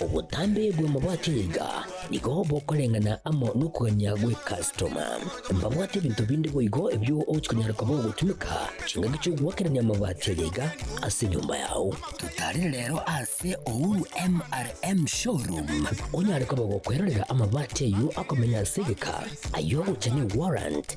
Obotambe bw'amabati niga nigo bokoreng'ana amo nokogania gw'ekastoma. Mbabwate ebinto binde boigo ebio ogochia konyara koba ogotumeka chingaki chi'ogoakerania amabati aye iga ase enyomba yao. Totarire rero ase Uhuru MRM Showroom onyare koba gokwerorera amabati ayio akomenya ase egeka, ayio ogocha ne warrant,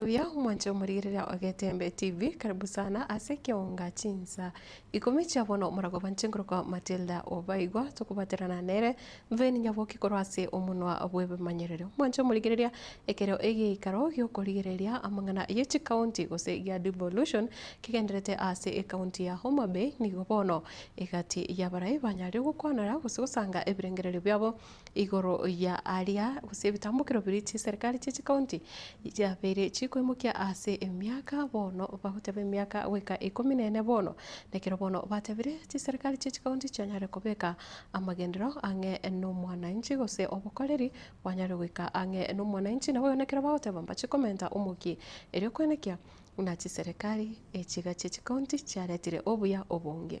Buya omwancha omorigereria ogetembe TV karibu sana ase keonga chinsa ikomi chia bono omoragwa banche nkorokwa Matilda obaigwa tokobaterana nere Veni Nyaboki korwa ase omonwa bw'ebimanyererio omwancha omorigereria ekero egeikaro giokorigereria amang'ana ye chikaunti gose gia devolution kegenderete ase ekaunti ya Homabay nigo bono egati yabarai banyarire gokwanera gose gosanga ebirengererio biabo Igoro ya aria, gose ebitambokero biria chiserikari chie chikaunti chiabeire chikoimokia ase emiaka, bono bagoteba emiaka goika ikomi na ene bono. Nekero bono batebire chiserikari chie chikaunti chianyare kobeka amagenderero ang'e nomwananchi gose obokoreri bwanyare goika ang'e nomwananchi. Naboigo nekero bagoteba mbache komenta omokia, erio kwenekia buna chiserikari echiga chie chikaunti chiaretire obuya obonge.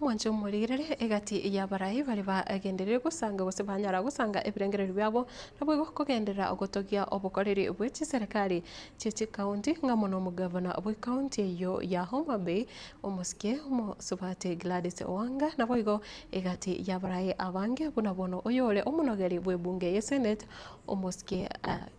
Mwanche omorigererie egati y'abarai bare bagenderire gosanga gose banyara gosanga ebirengererio biabo, naboigo kogenderera ogotogia obokoreri bwe chiserekari chie chikaunti, ng'a mono omogavana bwe kaunti eyio ya Homa Bay, omosikie omosubati Gladys Wanga, naboigo egati y'abarai abange buna bono oyore omonogeri bw'ebunge ye Senate, omosikie Ag.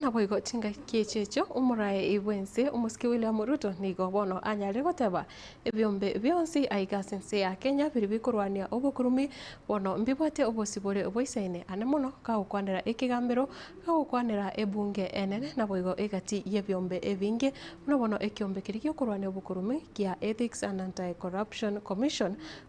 Naboigo chingaki echi echo omoraei bwense omosike William Ruto nigo bono anyare goteba ebiombe bionsi aiga ase ense ya Kenya biri bikorwania obokurumi bono mbibwate obosio bore boisaine ane mono kagokwanera ekegambero agokwanera ebunge enene naboigo egati yebiombe ebinge buna bono ekiombe keria giokorwania obokurumi gia Ethics and Anti-Corruption Commission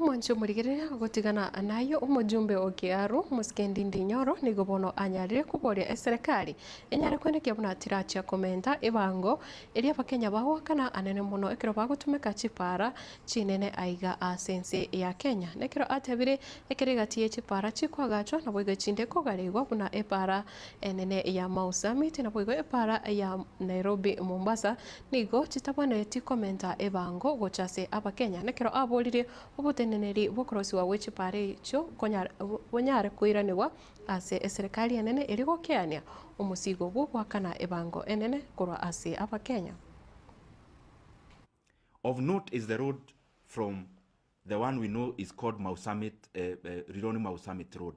Omonche omorigereria ogotigana naye omojumbe o Kearu, Moskendi Ndinyoro, nigo bono anyarire koboria eserekari enyare kwenekia buna tirachia komenta ebango eria abakenya bagoakana anene mono ekero bagotumeka chipara chinene aiga ase ense ya Kenya. Nekero atebire ekero egati ye chipara chikoagachwa naboigo chinde kogaregwa buna epara enene ya Mau Summit naboigo epara ya Nairobi Mombasa Nigo chitabwenereti komenta ebango gocha ase Abakenya, nekero aborire oboteneneri bw'okorosiwa gwe chipare echio bonyare koiranigwa ase eserekari enene eria gokeania omosigo bw'ogoakana ebango enene korwa ase Abakenya. Of note is the road from the one we know is called Mau Summit, Rironi-Mau Summit Road.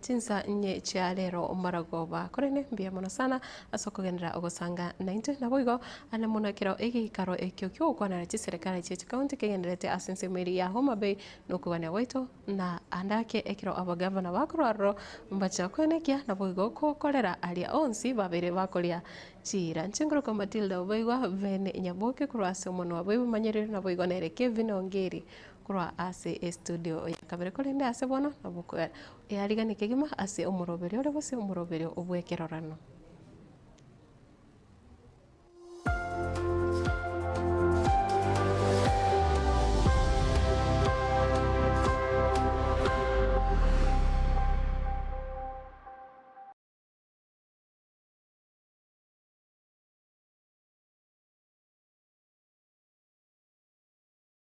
Chinsa inye chia rero maragoba, korende mbuya mono sana ase okogenderera ogosanga naintwe. Naboigo, aria buna kero egeikaro ekio ki'ogokwanera chiserekare chia chikaunti kegendererete ase ensemo eria ya Homa Bay na okogania gwaito, na ande ake ekero abagavana bakorwa aroro mbachia kwenekia, naboigo gokorera aria onsi babeire bakoria chiira. Nchingurukwa Matilda oboigo, Ben Nyaboke korwa ase Omonu wa Boibi Manyereru, naboigo nere Kevin Ongiri korwa ase estudio ya kabere, korende ase bono nabo earigani kegima ase omoroberio ore gose omoroberio bw'ekerorano.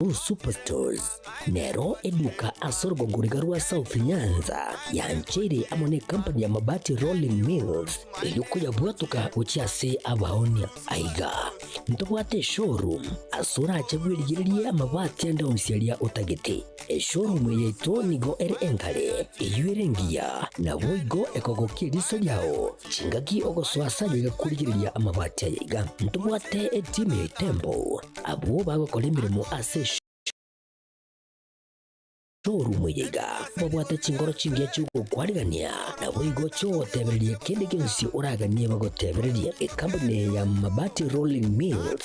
Cool Superstores nero eduka ase orugongo riga rwa South Nyanza yancheire amo ne company ya Mabati Rolling Mills erio koyabwatoka gochia ase abaonia. Aiga ntobwate eshowroom ase orache bwerigererie amabati ande onsi aria otagete. Eshoorumu yaito nigo ere enkare, eyio ere engiya, naboigo ekogokia eriso riao chingaki ogosoa ase ayio egakurigereria amabati aye iga. Ntobwate etimu ya etembo, abwo bagokora emeremo ase eshoorumu eye iga, babwate chingoro chingiya chi'ogokwarigania, naboigo chi'ogotebereria kende gionsi oraganie bagotebererie. Ekambuni ya Mabati Rolling Mills.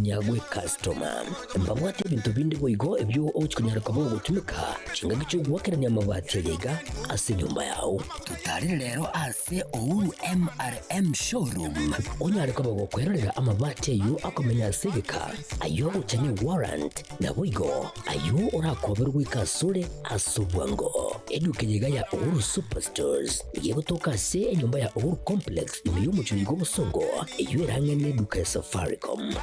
Nyagwe customer. Mbabwate ebinto binde boigo ebio ogochia konyara koba ogotumeka chingaki chi'ogoakerania amabati aria iga ase enyomba yao. Totarire rero ase Uhuru MRM Showroom onyare koba gokwerorera amabati ayio akomenya ase egeka, ayio ogocha ne warrant, naboigo ayio orakoberwe goika asore ase obwango. Eduka eye iga ya Uhuru Superstores. Eye egotoka ase enyomba ya Uhuru Complex ime y'omochie oyiga obosongo, eyio erang'ane neduka ya Safaricom.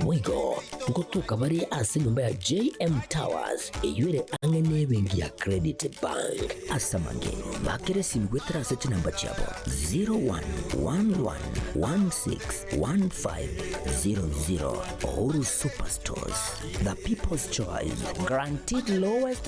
Boigo, ngotoka bare ase enyomba ya JM Towers, eyio ere ang'e nebenki ya Credit Bank. Ase amage, bakera esimi goetera ase chinamba chiabo 0111161500. Uhuru Superstores, the people's choice, guaranteed lowest